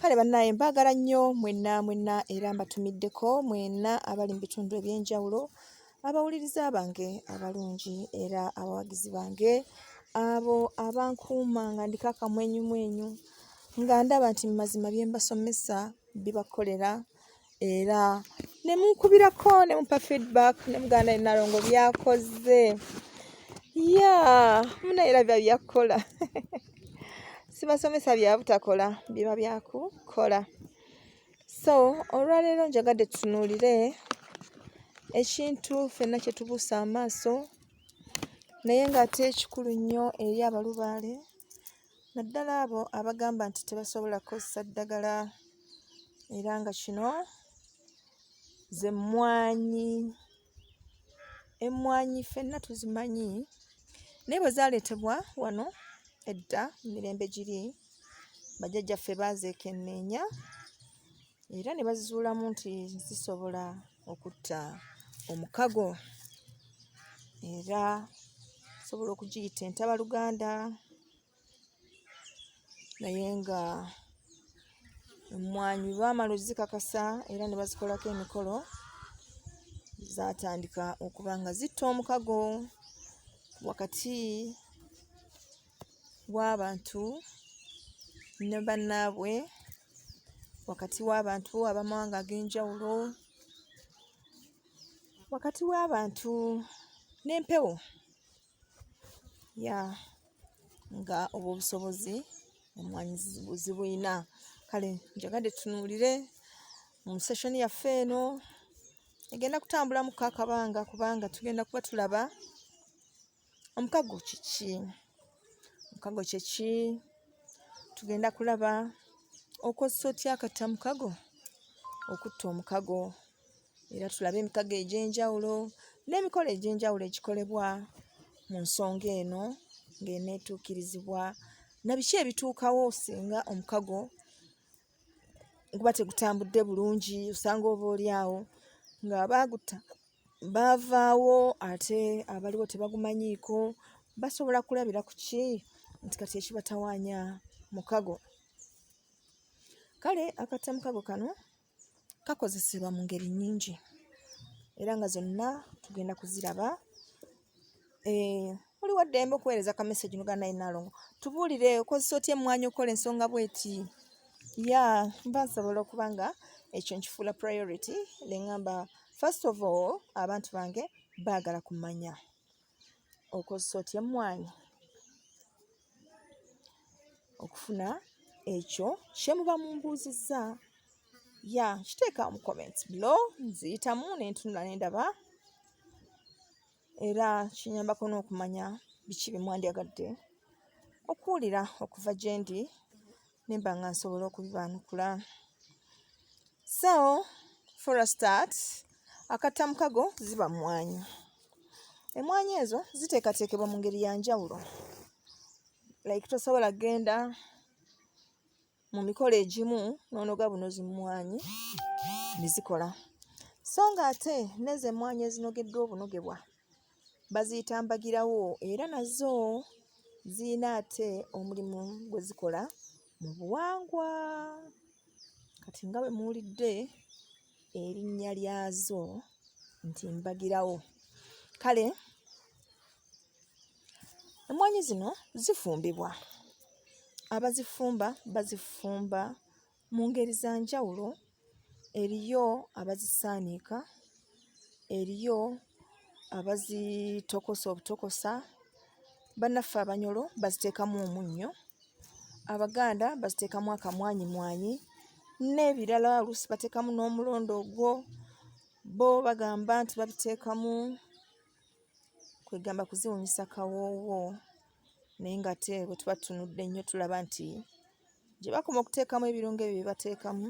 kale banaye mbagala nnyo mwenna mwenna era mbatumiddeko mwenna abali mu bitundu ebyenjawulo abawuliriza bange abalungi era abawagizi bange abo abankuuma nga ndiko akamwenyumwenyu nga ndaba nti mu mazima bye mbasomesa bibakolera era ne munkubirako ne mupa feedback ne muganda ne nalongo byakoze ya muna era bya byakukola sibasomesa bya butakola biba byakukola so olwaleero njagadde tutunuulire ekintu fenna kye tubuusa amaaso naye ng'ate ekikulu nnyo eri abalubaale naddala abo abagamba nti tebasobola kukozesa ddagala era nga kino ze mmwanyi emmwanyi ffenna tuzimanyi naye bwe zaaleetebwa wano edda mirembe giri bajjajjaffe baazeekenneenya era ne bazizuulamu nti zisobola okutta omukago era osobola okugiyita entabaluganda naye nga emmwanyi baamala ozikakasa era ne bazikolako emikolo zaatandika okuba nga zitta omukago wakati w'abantu ne bannaabwe wakati w'abantu abamawanga ag'enjawulo wakati w'abantu n'empewo ya nga obwo obusobozi emwanyi zibulina kale njagadde tunuulire mu seshoni yaffe eno egenda kutambulamu kakabanga kubanga tugenda kuba tulaba omukago kiki omukago kyeki tugenda kulaba okozesa otya akatta mukago okutta omukago era tulabe emikago egy'enjawulo n'emikolo egy'enjawulo egikolebwa mu nsonga eno ng'eneetuukirizibwa na biki ebituukawo singa omukago guba tegutambudde bulungi osanga oba oli awo nga baagutta baavaawo ate abaliwo tebagumanyiiko basobola kulabira ku ki nti kati ekibatawaanya mukago kale akatta mukago kano kakozesebwa mu ngeri nnyingi era nga zonna tugenda kuziraba Eh, oli waddembe okuweereza ka message nuga naye nalongo tubuulire okozesa otya emmwanyi okukola ensonga bweti ya mba nsobola okuba nga ekyo nkifuula priority neŋamba first of all abantu bange baagala kumanya okozesa otya emmwanyi okufuna ekyo kye muba mumbuuzizza ya nkiteeka mu comments below nziyitamu ne ntunula ne ndaba era kinyambako n'okumanya biki bye mwandyagadde okuwulira okuva gye ndi nemba nga nsobola okubibaanukula so for a start akatta mukago ziba mmwanyi emmwanyi ezo ziteekateekebwa mu ngeri ya njawulo like tosobola genda mu mikolo egimu n'onoga buno zimmwanyi ne zikola so ng'ate nezo emmwanyi ezinogeddwa obunogebwa baziyita mbagirawo era nazo ziyina ate omulimu gwe zikola mu buwangwa kati nga bwe muwulidde erinnya lyazo nti mbagirawo kale emmwanyi zino zifumbibwa abazifumba bazifumba Mu ngeri za njawulo eriyo abazisaanika, eriyo abazitokosa obutokosa, bannaffe abanyolo baziteekamu omunnyo, Abaganda baziteekamu akamwanyimwanyi n'ebirala oluusi bateekamu n'omulondo ogwo bo bagamba nti babiteekamu kwegamba kuziwunyisa kawoowo naye nga ate bwe tuba tunudde nnyo tulaba nti gye bakoma okuteekamu ebirungo ebyo bye bateekamu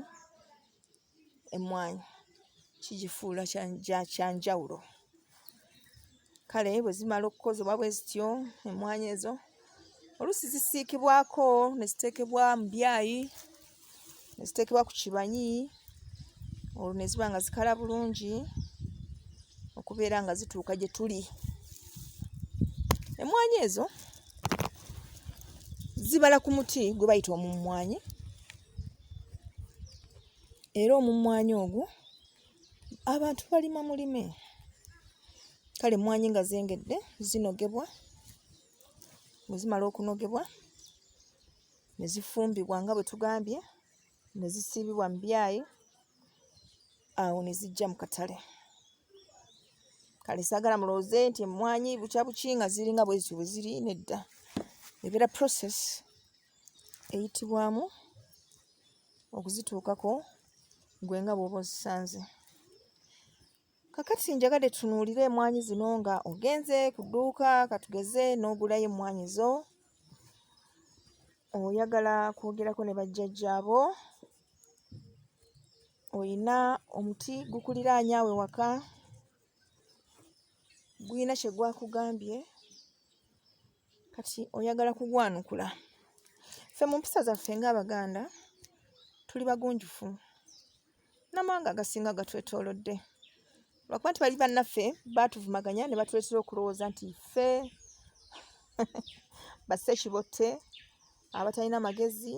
emmwanyi kigifuula kya njawulo kale bwe zimala okukozebwa bwe zityo emmwanyi ezo oluusi zisiikibwako ne ziteekebwa mu byayi ne ziteekebwa ku kibanyi olwo ne ziba nga zikala bulungi okubeera nga zituuka gye tuli emmwanyi ezo zibala ku muti gwe bayita omummwanyi era omummwanyi ogwo abantu balima mulime kale emmwanyi nga zengedde zinogebwa bwe zimala okunogebwa ne zifumbibwa nga bwe tugambye ne zisiibibwa mu byayi awo ne zijja mu katale kale saagala mulowooze nti emmwanyi bukya buki nga ziringa bwe zityo bwe ziri nedda ebeera process eyitibwamu okuzituukako gwe nga bw'oba ozisanze Kakati njagadde tunuulire emwanyi zino nga ogenze ku dduuka katugeze n'ogulayo emmwanyi zo oyagala kwogerako ne bajjajjaabo olina omuti gukuliraanya awe waka gulina kye gwakugambye kati oyagala kugwanukula ffe mu mpisa zaffe ng'abaganda tuli bagunjufu n'amawanga agasinga gatwetoolodde lwakuba nti bali bannaffe baatuvumaganya ne batuleetera okulowooza nti ffe basse kibotte abatalina magezi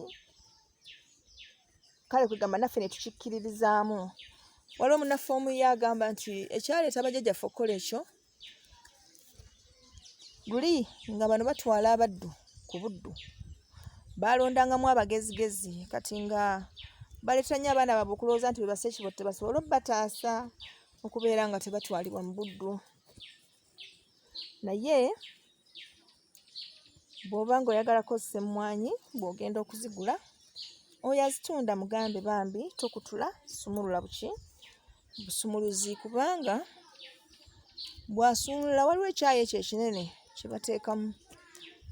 kale kwegamba naffe ne tukikkiririzaamu waliwo munaffe omu ye agamba nti ekyaleeta bajjajjaffe okukola ekyo luli nga bano batwala abaddu ku buddu baalondangamu abagezigezi kati nga baleeta nnyo abaana baabwe okulowooza nti bebasa ekibo tebasobole obataasa okubeera nga tebatwalibwa mu buddu naye bw'oba ng'oyagala kozesa emmwanyi bw'ogenda okuzigula oyo azitunda mugambe bambi tokutula sumulula buki busumuluzi kubanga bw'asumulula waliwo ekyayi ekyo ekinene kye bateekamu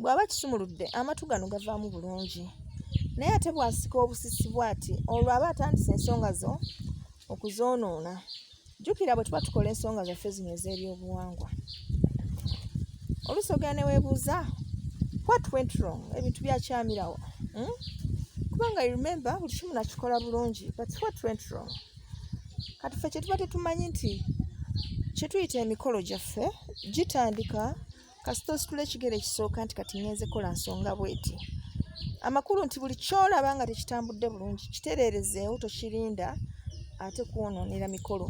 bw'aba kisumuludde amatu gano gavaamu bulungi naye ate bw'asika obusisi bw'ati olwo aba atandise ensonga zo okuzoonoona jjukira bwe tuba tukola ensonga zaffe zino ez'ebyobuwangwa oluusi ogenda neweebuuza what went wrong ebintu byakyamirawo hmm? kubanga i remember buli kimu nakikola bulungi but what went wrong kati ffe kyetuba tetumanyi nti kyetuyita emikolo gyaffe gitandika kasita ositula ekigere ekisooka nti kati ngenze kola nsonga bweti amakulu nti buli kyolaba nga tekitambudde bulungi kitereerezeewo tokirinda ate kwonoonera mikolo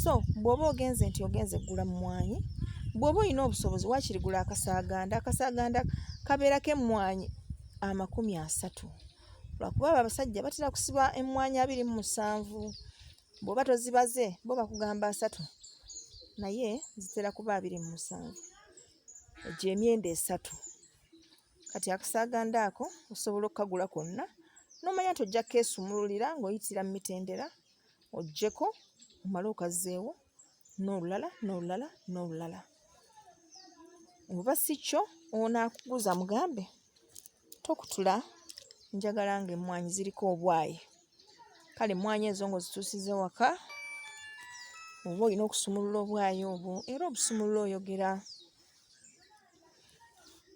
so bw'oba ogenze nti ogenze gula mumwanyi bw'oba olina obusobozi wakiri gula akasaaganda akasaaganda kabeerako emmwanyi amakumi asatu lwakuba abo abasajja batera kusiba emmwanyi abiri mu musanvu bw'oba tozibaze bo bakugamba asatu naye zitera kuba abiri mu musanvu egyo emyenda esatu kati akasaaganda ako osobola okukagula konna n'omanya nti ojja keesumululira ng'oyitira mu mitendera ojjeko omale okazzeewo n'olulala n'olulala n'olulala oba si kyo onaakuguza mugambe tokutula njagala nga emmwanyi ziriko obwayi kale emmwanyi ezo nga ozituusiza ewaka oba olina okusumulula obwayi obwo era obusumulula oyogera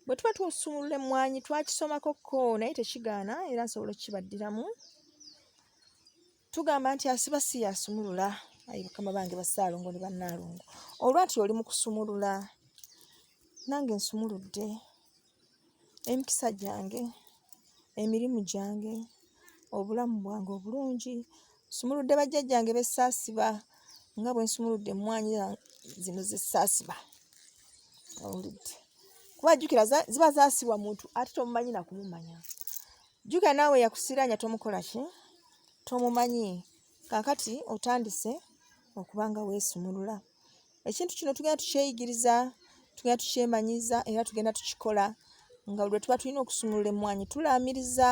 bwe tuba tusumulula emmwanyi twakisomako ko naye tekigaana era nsobola okukibaddiramu tugamba nti asiba si yasumulula ayi mukama bange basaalongo ne bannaalongo olwati oli mu kusumulula nange nsumuludde emikisa gyange emirimu gyange obulamu bwange obulungi nsumuludde bajjajjange besaasiba nga bwe nsumuludde emmwanyi zino zesaasiba owulidde kuba jjukira ziba zaasibwa muntu ate tomumanyi nakumumanya jjukira naawe yakusiranya tomukola ki tomumanyi kakati otandise okuba nga weesumulula ekintu kino tugenda tukyeyigiriza tugenda tukyemanyiza era tugenda tukikola nga lwe tuba tulina okusumulula emmwanyi tulaamiriza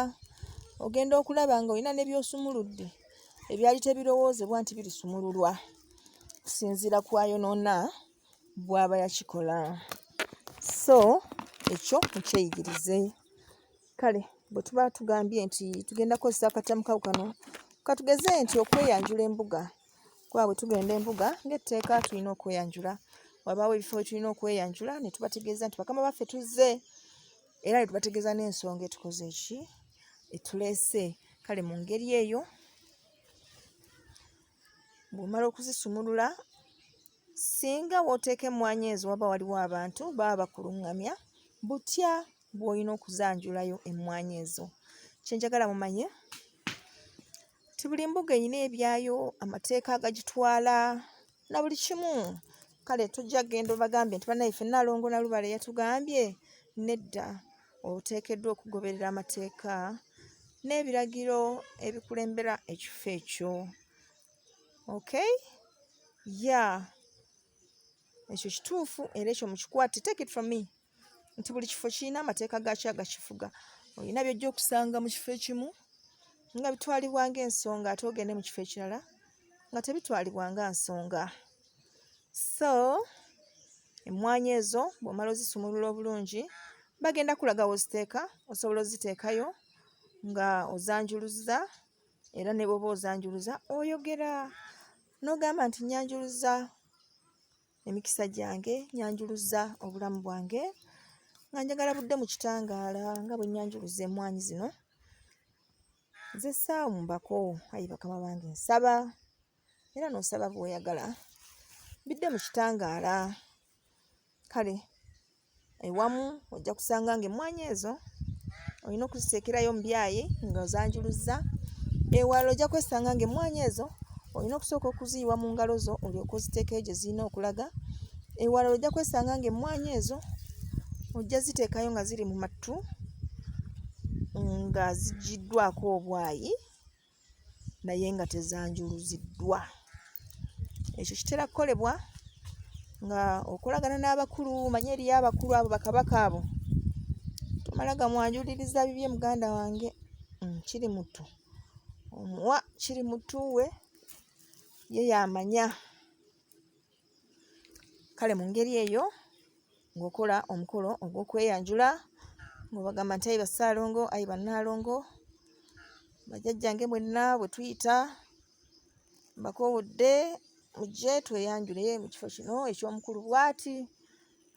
ogenda okulaba nga olina ne byosumuludde ebyali tebirowoozebwa nti birisumululwa kusinziira kwayonoona bwaba yakikola so ekyo mukyeyigirize kale bwe tuba tugambye nti tugenda kukozesa akatamukawo kano katugeze nti okweyanjula embuga kuba bwe tugenda embuga ng'etteeka tulina okweyanjula wabaawo ebifo we tulina okweyanjula ne tubategeeza nti bakama baffe tuzze era ne tubategeeza n'ensonga etukoze eki etuleese kale mu ngeri eyo bw'omala okuzisumulula singa w'oteeka emmwanyi ezo waba waliwo abantu baba bakulungamya butya bw'olina okuzanjulayo emmwanyi ezo kye njagala mumanye ti buli mbuga erina ebyayo amateeka agagitwala na buli kimu kale tujja kugenda obagambye nti banaye ffe nalongo nalubale yatugambye nedda oteekeddwa okugoberera amateeka n'ebiragiro ebikulembera ekifo ekyo okay ya ekyo kituufu era ekyo mukikwate take it from me nti buli kifo kirina amateeka gaakyo agakifuga olina byojja okusanga mu kifo ekimu nga bitwalibwa ngaensonga ate ogende mu kifo ekirala nga tebitwalibwa nga nsonga so emmwanyi ezo bw'omala ozisumulula obulungi bagenda kulaga woziteeka osobola oziteekayo nga ozanjuluza era ne bwoba ozanjuluza oyogera n'ogamba nti nyanjuluza emikisa gyange nyanjuluza obulamu bwange nga njagala budde mu kitangaala nga bwe nyanjuluza emwanyi zino nze saamu mbako ayi bakama bange nsaba era nosaba bwoyagala bidde mu kitangaala kale ewamu ojja kusanga nga emmwanyi ezo olina okuziteekerayo omubyayi nga ozanjuluzza ewala ojja kwesanga nga emmwanyi ezo olina okusooka okuziyiwa mu ngalo zo olyoka oziteekayo gye zirina okulaga ewala ojja kwesanga nga emmwanyi ezo ojja ziteekayo nga ziri mu mattu nga zigiddwako obwayi naye nga tezanjuluziddwa ekyo kitera kukolebwa nga okolagana n'abakulu manye eriyo abakulu abo bakabaka abo tomala gamwanjuliriza bibye muganda wange mm, kiri mutu omuwa kiri mutuwe ye yamanya kale mu ngeri eyo ng'okola omukolo ogw'okweyanjula ng'obagamba nti ayi basaalongo ayi bannaalongo bajajjange mwenna bwe tuyita mbakoowodde mujje tweyanjule mu kifo kino eky'omukulu bwati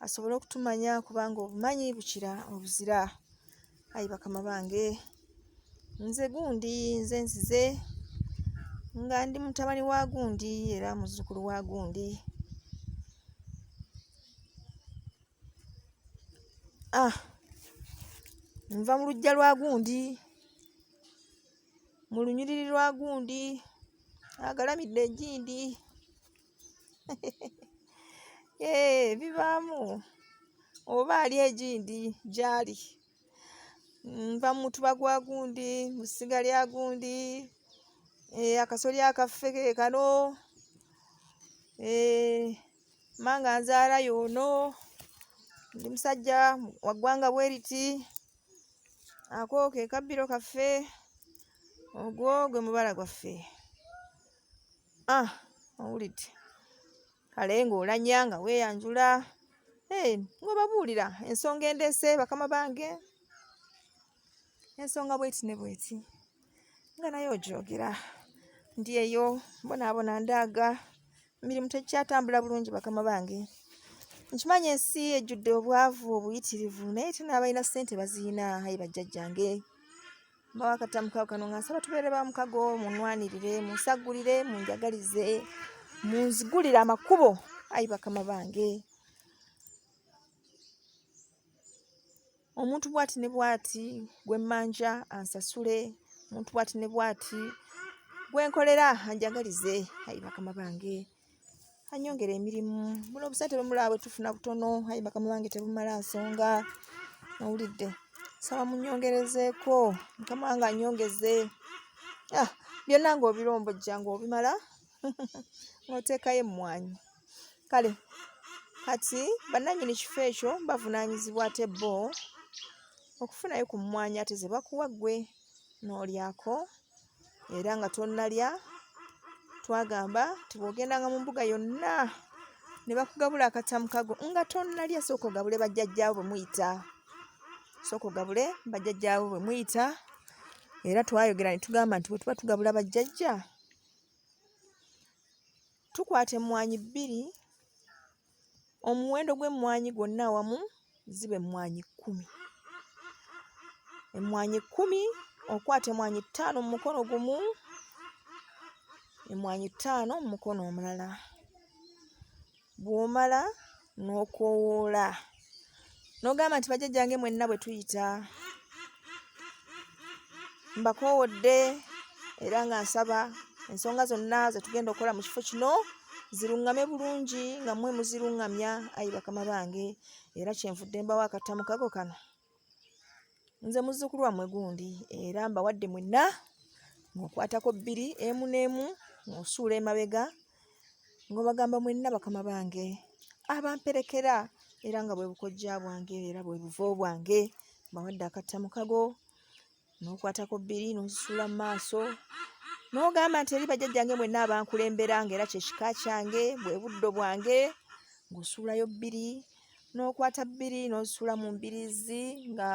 asobole okutumanya kubanga obumanyi bukira obuzira ayi bakama bange nze gundi nze nzize nga ndi mutabani wa gundi era muzzukulu wa gundi ah nva mu lujja lwa gundi mu lunyiriri lwa gundi agalamidde egindi Eee, eh, bibaamu oba ali egindi gyali nva mu mutuba gwa gundi mu ssiga lya gundi eh, akasoli akaffe ke kano eh, manga nzaala yoono ndi musajja waggwanga bweriti ako ke kabbiro kaffe ogwo gwe mubala gwaffe ah owulidde kale ng'olanya nga weeyanjula eh, ng'obabuulira ensonga endeese bakama bange ensonga bweti ne bweti nga naye ogyogera ndi eyo mbonaabona ndaaga mirimu tekyatambula bulungi bakama bange nkimanyi ensi ejjudde obwavu obuyitirivu naye tena abalina ssente baziyina ayi bajjajjange mbawa akatamu kawo kano nga nsaba tubeere ba mukago munwanirire munsagulire munjagalize munzigulire amakubo ayi bakama bange omuntu bwati ne bwati gwe mmanja ansasule omuntu bwati ne bwati gwe nkolera anjagalize ayi bakama bange anyongera emirimu muno obusente bwemulaba bwetufuna butono aye bakama bange tebumala nsonga nawulidde saba munyongerezeeko mukama wange anyongeze ah, byonna nga obirombojja nga obimala ngaoteekayo emmwanyi kale kati bannanyini kifo ekyo bavunaanyizibwa ate bo okufunayo ku mmwanyi ate ze bakuwa ggwe n'olyako era nga tonnalya twagamba nti bw'ogendanga mu mbuga yonna ne bakugabula akatamu kago nga tonnalya sooka ogabule bajjajjaawo bwe muyita sooka ogabule bajjajjaawo bwe muyita era twayogera ne tugamba nti bwe tuba tugabula bajjajja tukwata emmwanyi bbiri omuwendo gw'emmwanyi gwonna awamu ziba emmwanyi kkumi emmwanyi kkumi okwata emmwanyi ttaano mu mukono gumu emmwanyi ttaano mu mukono omulala bw'omala n'okowoola nogamba nti bajajjange mwenna bwe tuyita mbakoowodde era nga nsaba ensonga zonna zetugenda okukola mu kifo kino ziruŋŋame bulungi nga mwe muziruŋŋamya ayi bakama bange era kyenvudde mbawo akatamu kago kano nze muzzukulu wammwe gundi era mbawadde mwenna ng'okwatako bbiri emu n'emu ng'osuula emabega ng'obagamba mwenna bakama bange abamperekera era nga bwe bukojja bwange era bwe buvo bwange mbawadde akatta mukago n'okwatako bbiri n'ozisuula mu maaso n'ogamba nti eri bajjajjange mwenna abankulembera nga era kyekika kyange bwe buddo bwange ng'osuulayo bbiri n'okwata bbiri n'ozisuula mu mbirizi nga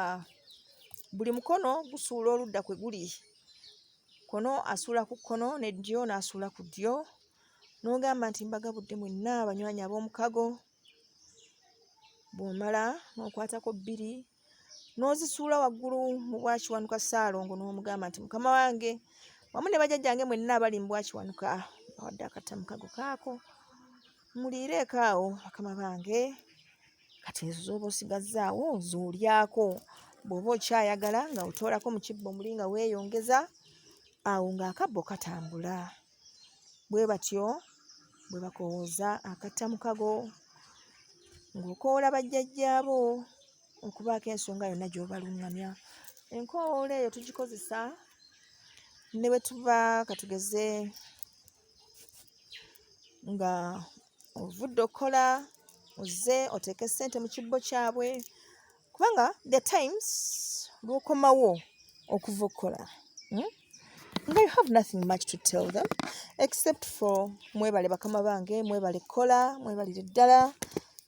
buli mukono gusuula oludda kwe guli kono asuula ku kkono ne ddyo n'asuula ku ddyo n'ogamba nti mbagabudde mwenna abanywanyi ab'omukago bw'omala n'okwatako bbiri n'ozisuula waggulu mu bwakiwanuka ssaalongo n'omugamba nti mukama wange wamu ne bajajjange mwenna abali mu bwakiwanuka bawadde akatamukago kaako muliireeko awo bakama bange kati ezo z'oba osigazzaawo z'olyako bw'oba okyayagala nga otoolako mu kibbo muli nga weeyongeza awo ng'akabbo katambula bwe batyo bwe bakowooza akatta mukago ng'okoola bajjajjaabo okubaako ensonga yonna gy'obaluŋŋamya enkoowoola eyo tugikozesa ne bwe tuba katugeze nga ovudde okukola ozze oteeke ssente mu kibbo kyabwe kubanga the times lwokomawo okuva okukola hmm? nga you have nothing much to tell them except for mwebale bakama bange mwebale kukola mwebalire ddala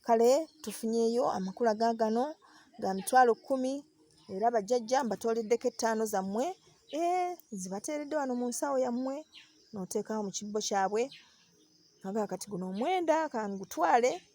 kale tufunyeyo amakulu aga gano ga mitwalo kkumi era bajjajja mbatooleddeko ettaano zammwe e eh, zibateeredde wano mu nsawo yammwe nooteekawo mu kibbo kyabwe aga kati guno omwenda kangutwale ka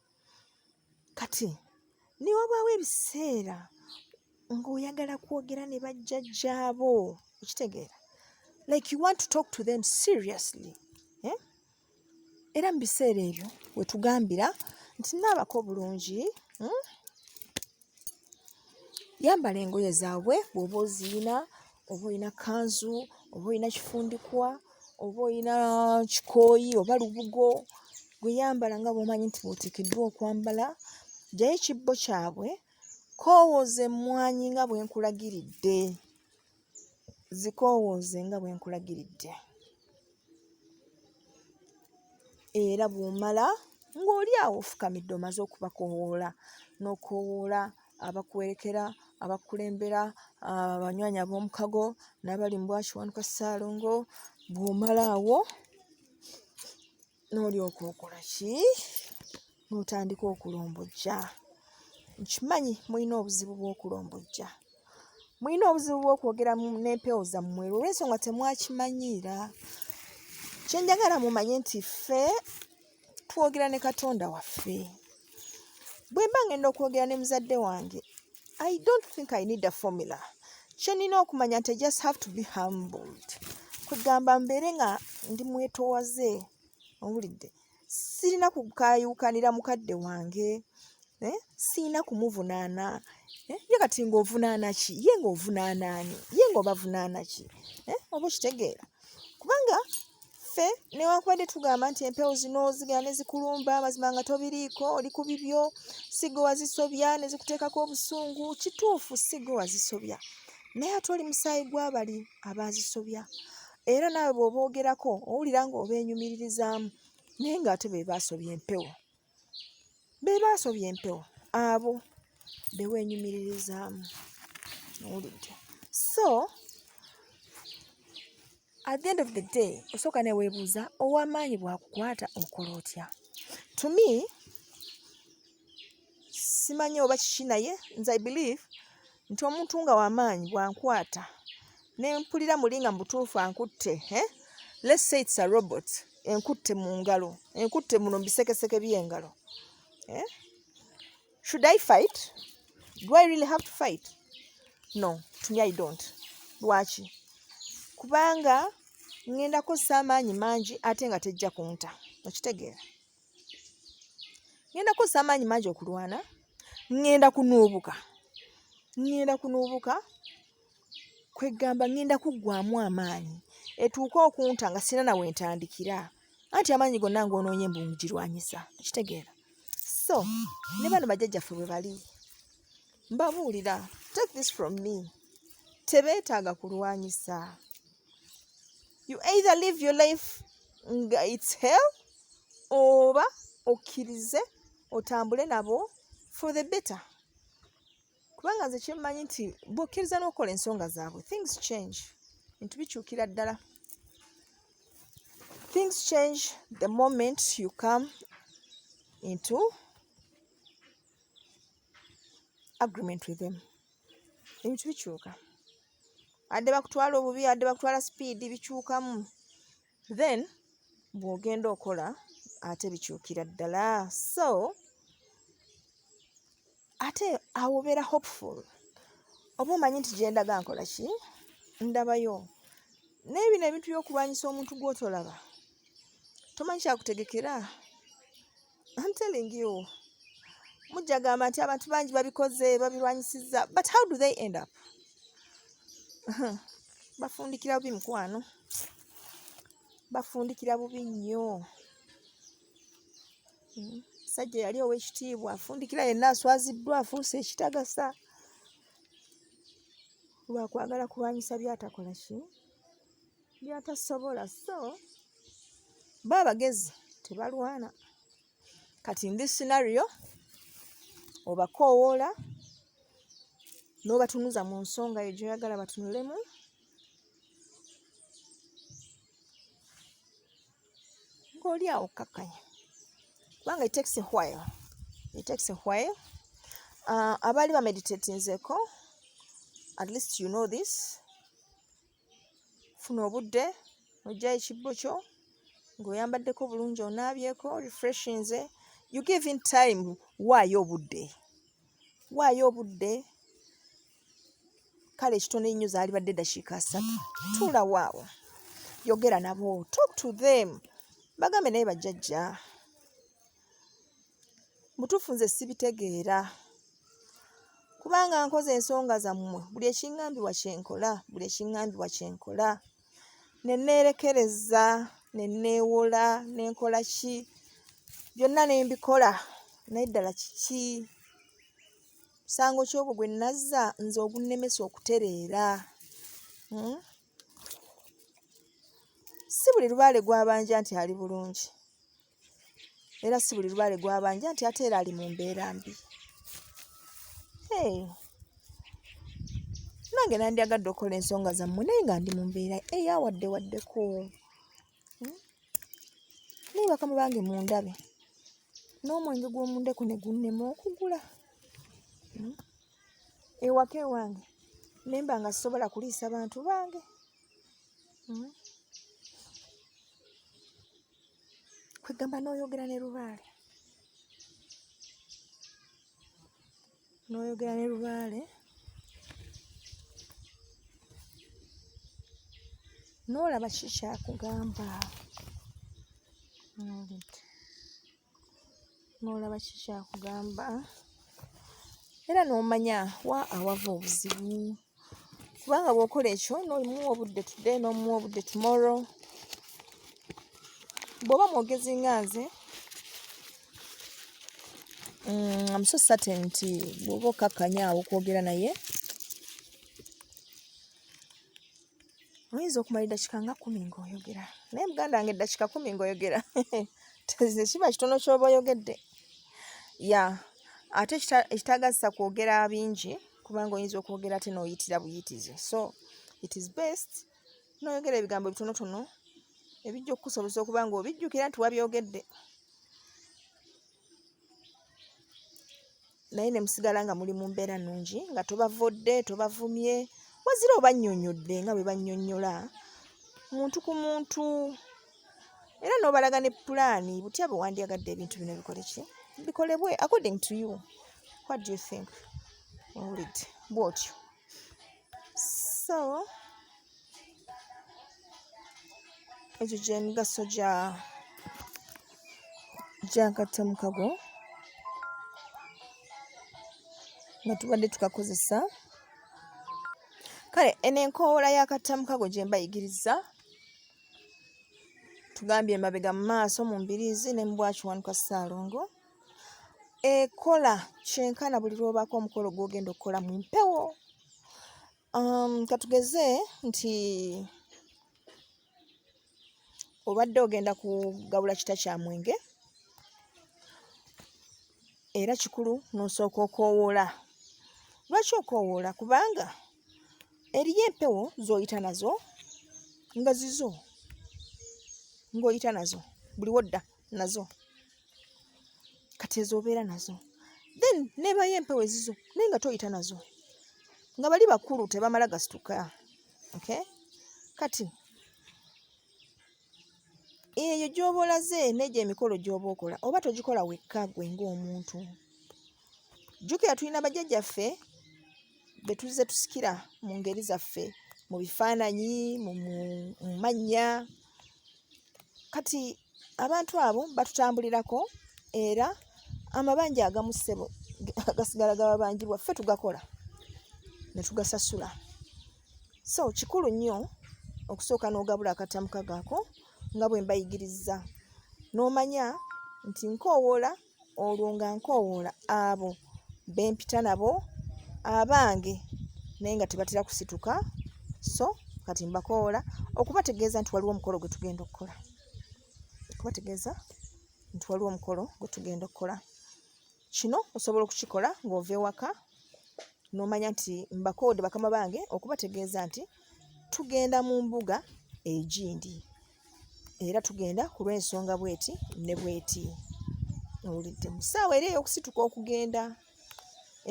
kati ne wabaawo ebiseera ng'oyagala kwogera ne bajjajjaabo okitegeera like you want to talk to them seriously eh? era mu biseera ebyo wetugambira nti naabako bulungi hmm? yambala engoye zaabwe bw'oba oziyina oba olina kanzu oba olina kifundikwa oba olina kikooyi oba lubugo gwe yambala nga bw'omanyi nti bw'oteekeddwa okwambala jjayo ekibbo kyabwe koowooza emmwanyi nga bwe nkulagiridde zikoowooze nga bwe nkulagiridde era bw'omala ng'oli awo ofukamidde omaze okubakoowoola n'okoowoola abakuwerekera abakulembera abanywanyi ab'omukago n'abali mu bwakiwanuka ssaalongo bw'omala awo n'olyoka okola ki n'otandika okulombojja nkimanyi mulina obuzibu bw'okulombojja mulina obuzibu bw'okwogera n'empewo zammwe olw'ensonga temwakimanyiira kye njagala mumanye nti ffe twogera ne katonda waffe bwe mba ngenda okwogera ne muzadde wange I don't think I need a formula. Chenina okumanya nti just have to be humbled. Kugamba mbeere nga ndi mwetowaze owulidde sirina kukayuukanira mukadde wange eh? sirina kumuvunaana eh? ye kati ng'ovunaana ki ye ng'ovunaana ani ye ng'obavunaana ki eh? oba okitegeera kubanga ffe newankubadde tugamba nti empewo zino zigera ne zikulumba amazima nga tobiriiko oli ku bibyo sigwe wazisobya ne zikuteekako obusungu kituufu sigwe wazisobya naye ate oli musaayi gw'abali abaazisobya era naawe bw'oboogerako owulira ng'obeenyumiririzaamu naye ng'ate be baasobya empewo be baasobya empewo abo be weenyumiririzaamu owulidde so at the end of the day osooka ne weebuuza ow'amaanyi bw'akukwata okola otya to me simanyi oba kiki naye nze i believe nti omuntu nga wamaanyi bwankwata nempulira muli nga mubutuufu ankutte eh? let's say it's a robot enkutte mu ngalo enkutte muno mubisekeseke byengalo eh? should i fight do i really have to fight no to me i don't lwaki kubanga ngenda kozesa amaanyi mangi ate nga tejja kunta okitegeera ŋŋenda kukozesa amaanyi mangi okulwana ŋŋenda kunuubuka ŋŋenda kunuubuka kweggamba ŋŋenda kuggwamu amaanyi etuuke okunta nga sirina nawe ntandikira anti amaanyi gonna ng'onoonye mbu ngirwanyisa okitegeera so ne bano bajjajjaffe bwe bali mbabuulira take this from me tebeetaaga kulwanyisa you either live your life nga its hell oba okkirize otambule nabo for the better kubanga nze kyemmanyi nti bwokkiriza n'okola ensonga zaabwe things change bintu bikyukira ddala things change the moment you come into agreement with them ebintu bikyuka adde bakutwala obubi adde bakutwala sipiidi bikyukamu then bw'ogenda okola ate bikyukira ddala so ate awo obeera hopeful oba omanyi nti gyendaga nkola ki ndabayo naye bino ebintu by'okulwanyisa omuntu gw'otolaba tomanyi kyakutegekera I'm telling you mujja gamba nti abantu bangi babikoze babirwanyisizza but how do they end up bafundikira bubi mukwano bafundikira bubi nnyo hmm. sajja yali owekitiibwa afundikira yenna aswaziddwa afuuse ekitagasa lwakwagala kulwanyisa byatakola ki byatasobola so bo abagezi tebalwana kati ndi scenario obakoowoola n'obatunuza mu nsonga eyo gyoyagala batunulemu ng'oli awo kakkanya kubanga etakes while etakes while uh, abaali bameditatinzeko at least you know this funa obudde ojja ekibbo kyo ng'oyambaddeko bulungi onaabyeko refreshinze you give in time waayo obudde waayo obudde kale ekitono ennyo zaalibadde dakiika asatu tuula waawo yogera nabo talk to them bagambe naye bajjajja mutuufu nze sibitegeera kubanga nkoze ensonga zammwe buli ekingambibwa kyenkola buli ekingambibwa kyenkola neneerekereza neneewola nenkola ki byonna nembikola naye ddala kiki musango kyogwo gwe nazza nze ogunnemesa okutereera hmm? si buli lubaale gwabanja nti ali bulungi era si buli lubaale gwabanja nti ate era ali mu mbeera mbi nange nandyagadde okukola ensonga zammwe naye nga ndi mu mbeera eyawadde waddeko hmm? naye bakama bange mundabe n'omwenge gw'omundeko ne gunnema okugula hmm? ewaka ewange nemba nga sisobola kuliisa bantu bange hmm? kwegamba n'oyogera ne lubaale n'oyogera ne lubaale n'olaba ki kyakugamba n'olaba ki kyakugamba era n'omanya wa awava obuzibu kubanga bw'okola ekyo n'omuwa obudde today n'omuwa obudde tomorrow bw'oba mwogezi nga nze mm, am so certain nti bw'oba okkakkanya awo okwogera naye oyinza okumala eddakiika nga kumi ng'oyogera naye muganda wange eddakiika kumi ng'oyogera tekiba kitono kyoba oyogedde ya ate ekitagazisa kwogera bingi kubanga oyinza okwogera ate n'oyitira buyitizi so it is best n'oyogera ebigambo bitonotono ebijja okukusobozesa okuba nga obijjukira nti wabyogedde naye ne musigala nga muli mu mbeera nnungi nga tobavodde tobavumye wazira obannyonnyodde nga bwe bannyonnyola muntu ku muntu era n'obalaga ne pulaani butya bwe wandyagadde ebintu bino bikole ki bikolebwe according to you what do you think owulidde bw'otyo so Egyo gye migaso gya gya katemu kago nga tubadde tukakozesa kale eno enkoola ya katemu kago gye mbayigiriza tugambye emabega mu maaso mu mbiriizi ne mu bwakiwanuka ssaalongo ekola kyenkana buli lw'obaako omukolo gw'ogenda okukola mu mpewo Um, katugeze nti obadde ogenda kugabula kita kya mwenge era kikulu nosooka okoowoola lwaki okoowoola kubanga eriyo empewo z'oyita nazo nga zizo ng'oyita nazo buli wodda nazo kati ezo obeera nazo then nebayo empewo ezizo naye nga toyita nazo nga bali bakulu tebamala gasituka okay kati eyo gy'oba olaze n'egyo emikolo gy'oba okola oba togikola wekka gwe ng'omuntu jjukira tulina bajjajjaffe be tuzze tusikira mu ngeri zaffe mu bifaananyi mu mannya kati abantu abo batutambulirako era amabanja agamu ssebo gasigala gababanjibwa ffe tugakola ne tugasasula so kikulu nnyo okusooka n'ogabula akatamuka gaako nga bwe mbayigiriza n'omanya nti nkoowoola olwo nga nkoowoola abo be mpita nabo abange naye nga tebatera kusituka so kati mbakoola okubategeeza nti waliwo omukolo gwe tugenda okukola okubategeeza nti waliwo omukolo gwe tugenda okukola kino osobola okukikola ng'ova ewaka n'omanya nti mbakoode bakama bange okubategeeza nti tugenda mu mbuga egindi era tugenda ku lw'ensonga bweti ne bweti owulidde mu ssaawa era ey'okusituka okugenda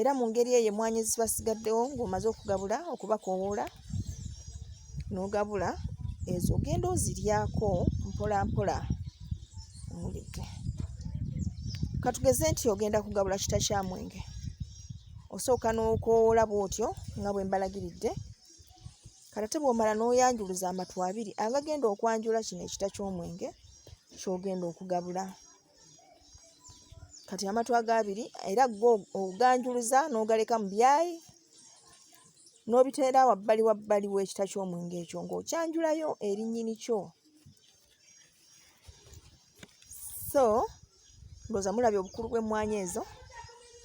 era mu ngeri eyo emwanyi zibasigaddewo ng'omaze okugabula okubakowoola n'ogabula ezo ogenda oziryako mpola mpola owulidde katugeze nti ogenda kugabula kita kya mwenge osooka n'okowoola bw'otyo nga bwe mbalagiridde kati ate bw'omala n'oyanjuluza amatu abiri agagenda okwanjula kino ekita ky'omwenge ky'ogenda okugabula kati amatu ago abiri era go oganjuluza n'ogaleka mu byayi n'obiteera wabbali wabbali w'ekita ky'omwenge ekyo ng'okyanjulayo erinnyini kyo so ndowooza mulabye obukulu bw'emmwanyi ezo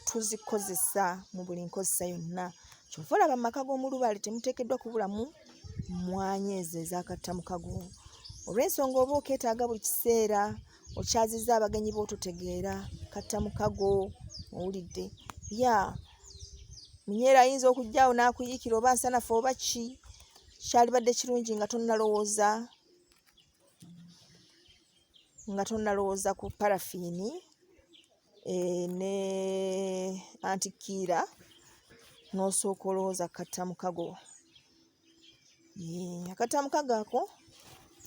tuzikozesa mu buli nkozesa yonna kyova olaba mu maka g'omulubaale temuteekeddwa kubulamu mmwanyi ezo ezakatta mu kago olw'ensonga oba okeetaaga buli kiseera okyazizza abagenyi boototegeera katta mu kago owulidde ya munyeera ayinza okujjaawo n'akuyiikira oba nsanafu oba ki kyalibadde kirungi nga tonnalowooza nga tonnalowooza ku parafiini eh, ne antikiira n'osooka olowooza kukatta mukago eh, akatta mukago ako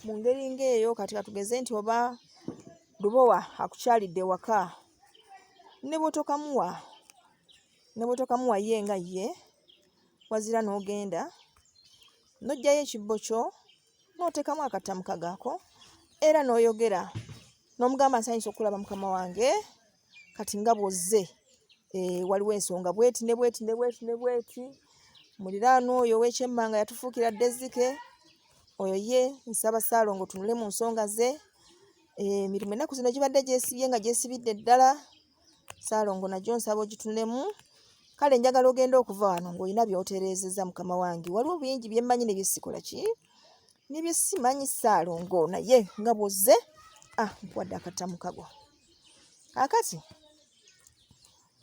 mu ngeri ng'eyo kati katugeze nti oba lubowa akukyalidde waka ne bwotokamuwa ne bwotokamuwa ye nga ye wazira n'ogenda n'oggyayo ekibbo kyo n'oteekamu akatamu kagaako era n'oyogera n'omugamba nsanyusa okulaba mukama wange kati nga bwozze eh, waliwo ensonga bweti ne bweti ne bweti ne bweti muliraano oyo owekyemmanga yatufuukira dezike oyo ye nsaba saalongo tunule mu nsonga ze eh, emirimu ennaku zino gibadde gyesibye nga gyesibidde ddala saalongo nagyo nsaba ogitunulemu kale njagala ogenda okuva wano ng'olina byotereezeza mukama wange waliwo bingi byemmanyi ne byesikola ki ne byesimanyi saalongo naye nga bwozze ah nkuwadde akatamukago akati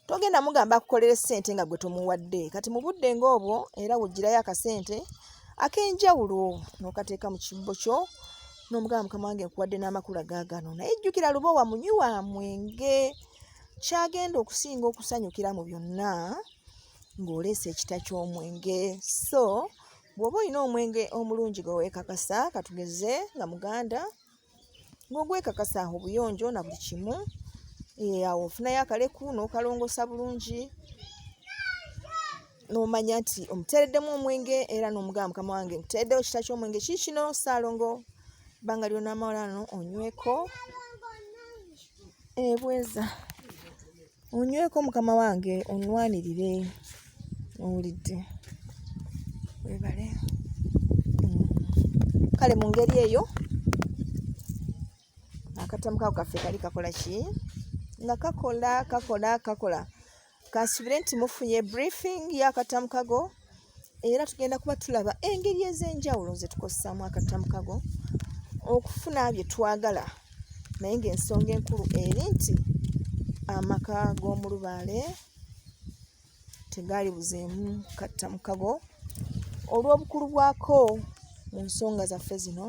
togenda mugamba akukolere ssente nga gwe tomuwadde kati mu budde ng'obwo era wugirayo akasente ak'enjawulo n'okateeka mu kibbo kyo n'omugamba mukama wange nkuwadde n'amakula gaagano naye jjukira lubowa munywi wa mwenge kyagenda okusinga okusanyukira mu byonna ng'oleesa ekita ky'omwenge so bw'oba olina omwenge omulungi gwe weekakasa katugeze nga muganda ng'ogwekakasa aho obuyonjo na buli kimu eh, awo ofunayo akaleku n'okalongoosa bulungi n'omanya nti omuteereddemu omwenge era n'omugamba mukama wange nkuteereddewo kita ky'omwenge kii kino saalongo ebbanga lyonamawulano onyweko ebweza eh, onyweko mukama wange onwanirire owulidde webale mm. kale mu ngeri eyo akatamu kako kaffe kali kakola ki nga kakola kakola kakola kansubire nti mufunye briefing yakatamu kago era tugenda kuba tulaba engeri ez'enjawulo ze tukozesaamu akatamu kago okufuna bye twagala naye ng'ensonga enkulu eri nti amaka g'omulubaale tegaali buzeemu kattamu kago olw'obukulu bwako mu nsonga zaffe zino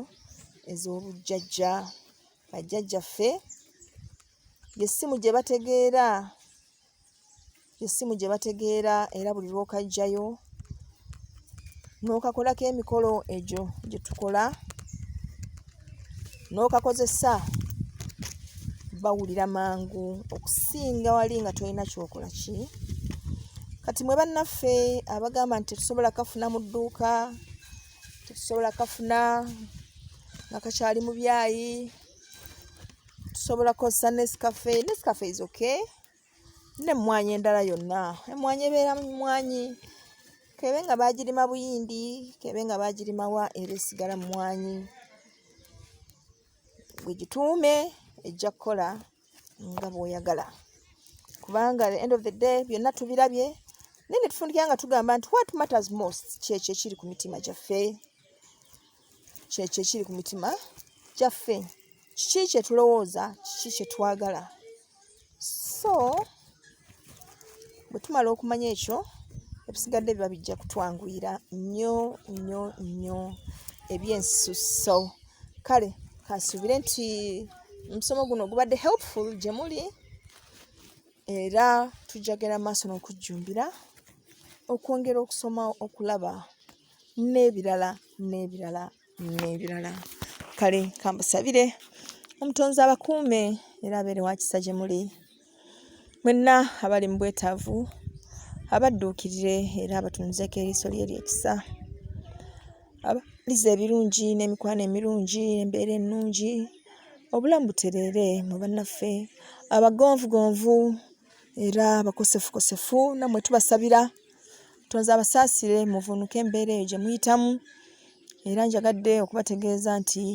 ez'obujjajja bajjajjaffe yessimu gye bategeera yessimu gye bategeera era buli lw'okajjayo n'okakolako emikolo egyo gye tukola n'okakozesa bawulira mangu okusinga wali nga tolina kyokola ki kati mwe bannaffe abagamba nti tetusobola kafuna mu dduuka tetusobola kafuna nga kakyali mu byayi tusobola kozesa nescafe nescafe is okay nemwanyi endala yonna emwanyi ebeera mumwanyi kebe nga bagirima buyindi kebe nga bagirimawa era esigala mumwanyi gwegituume ejja kukola nga bwoyagala kubanga the end of the day byonna tubirabye naye netufundikira nga tugamba nti what matters most kyekyo ekiri ku mitima gyaffe kyekyo ekiri ku mitima gyaffe kiki kyetulowooza kiki kyetwagala so bwe tumala okumanya ekyo ebisigadde biba bijja kutwanguyira nnyo nnyo nnyo ebyensusso kale kasuubire nti omusomo guno gubadde helpful gye muli era tujjagera maaso n'okujjumbira okwongera okusoma okulaba n'ebirala n'ebirala n'ebirala kale kambasabire omutonzi abakuume era abeere wakisa gye muli mwenna abali mu bwetaavu abadduukirire era abatunuzeko eriiso lye lyekisa abalize ebirungi n'emikwano emirungi embeera ennungi obulamu butereere mu bannaffe abagonvugonvu era abakosefukosefu nammwe tubasabira tonze abasaasire muvunuke embeera eyo gye muyitamu era njagadde okubategeeza nti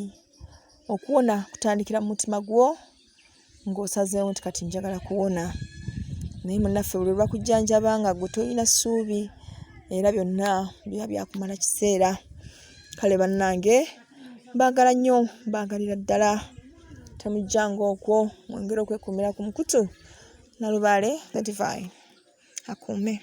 okuwona kutandikira mu mutima gwo ng'osazeewo nti kati njagala kuwona naye munaffe buli lwebakujjanjaba nga gwe tolina ssuubi era byonna biba byakumala kiseera kale bannange mbaagala nnyo mbaagalira ddala temujjanga okwo mwongere okwekuumira ku mukutu nalubaale 35 akuume.